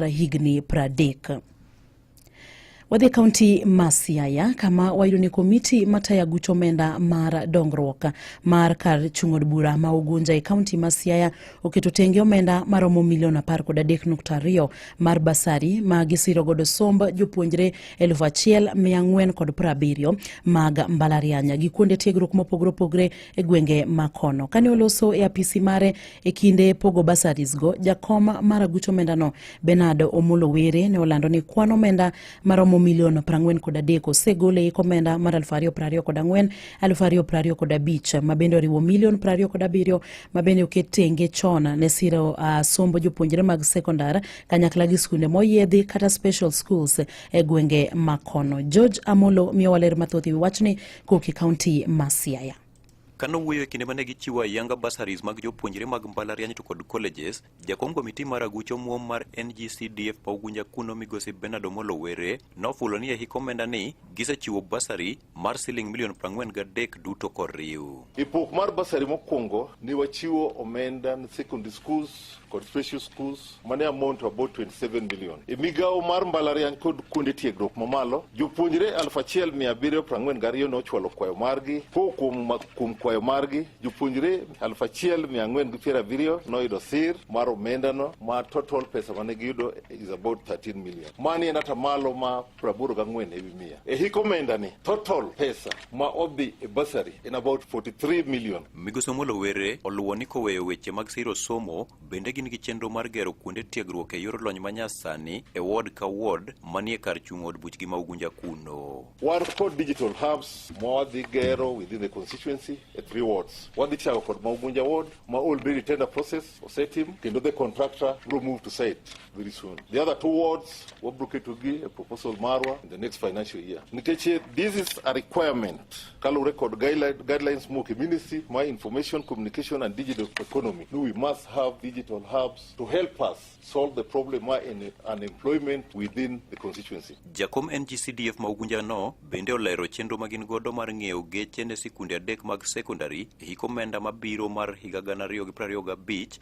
higni pradek. Wadhi kaunti ma Siaya kama wayudo ni komiti matayo aguch omenda mar dongruok mar kar chung' od bura ma Ugunja e kaunti ma Siaya oketo tenge omenda maromo milion apar kod adek nukta ariyo mar basari ma gisiro godo somb jopuonjre elfu achiel mia ang'wen kod piero abiriyo mag mbalariany gi kuonde tiegruok mopogore opogore e gwenge ma kono. Kane oloso e apisi mare E kinde pogo bursaries go, jakom mar aguch omendano Bernard Omolo Were ne olando ni kwan omenda maromo milion 43 kod adek osegol e ik omenda mar 2024 kod 2025 kod abich ma bende oriwo milion 20 kod abiriyo ma bende oket tenge chon ne siro uh, sombo jopuonjre mag sekondar kanyakla gi skunde moyiedhi kata special schools e gwenge makono. George Amolo miyowa ler mathoth e wi wachni Koki County ma Siaya. Ka nowuoyo e kinde ma ne gichiwo ayanga bursaries mag jopuonjre mag mbalariany to kod colleges, jakom komiti mar aguch omuom mar NGCDF ma Ugunja kuno migosi Bernard Omolo Were nofulo ni e hik omenda ni gisechiwo bursary mar siling milion 43 duto koriw. E pok mar bursary mokwongo ne wachiwo omenda ne secondary schools kod special schools mane amount to about 27 million. E migawo mar mbalariany kod kuonde tiegruok mamalo, jopuonjre 1742 ne ochwalo kwayo margi. Ko kuom, kuom kwayo margi, jopuonjre 1470 noyudo sir mar omendano ma total pesa mane giyudo is about 13 million. Mani en atamalo ma 84 ewi mia. E hik omendani, total pesa ma odhi e basari en about 43 million. Migosi Omolo Were oluwo ni koweyo weche mag siro somo Bende gin gi chenro mar gero kuonde tiegruok e yor lony manyasani e ward ka ward manie kar chung' od buchgi ma Ugunja kuno. Wan kod digital hubs ma wadhi gero within the constituency e three wards. Wadhi chako kod ma Ugunja ward ma already tender process osetim kendo the contractor bro move to site. very soon. The other two wards, Wabruke Tugi, a proposal Marwa, in the next financial year. Niteche, this is a requirement. Kalu record guideline, guidelines more community, my information, communication, and digital economy. We must have digital hubs to help us solve the problem my in unemployment within the constituency. Jakom NGCDF Maugunja no, bende olero chenro magin godo mar ng'eyo geche ne sikunde adek mag secondary, hiko menda mabiro mar higa gana ariyo gi prariyo gabich,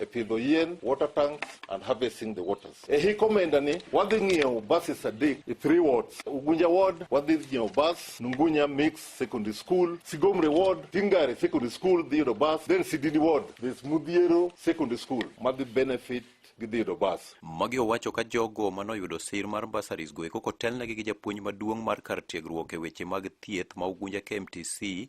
e pidho yien, water tanks and harvesting the waters. E hik omenda ni wadhi ng'iewo buses adek e three wards. Ugunja ward wadhi ng'iewo bus, Nungunya Mix Secondary School, Sigomre ward, Tingare Secondary School dhi yudo bus, then Sidini ward, there's Mudhiero Secondary School madhi benefit gidhi yudo bus. Magi owacho ka jogo manoyudo sir mar bursaries go eko kotelnegi gi japuonj maduong' mar kar tiegruok e weche mag thieth ma Ugunja KMTC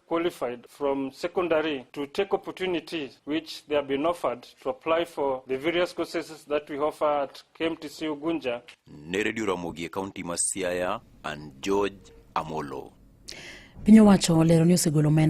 qualified from secondary to take opportunities which they have been offered to apply for the various courses that we offer at KMTC Ugunja. Ne Radio Ramogi e kaunti ma Siaya and George Amolo. Piny owacho olero ni osegolo omenda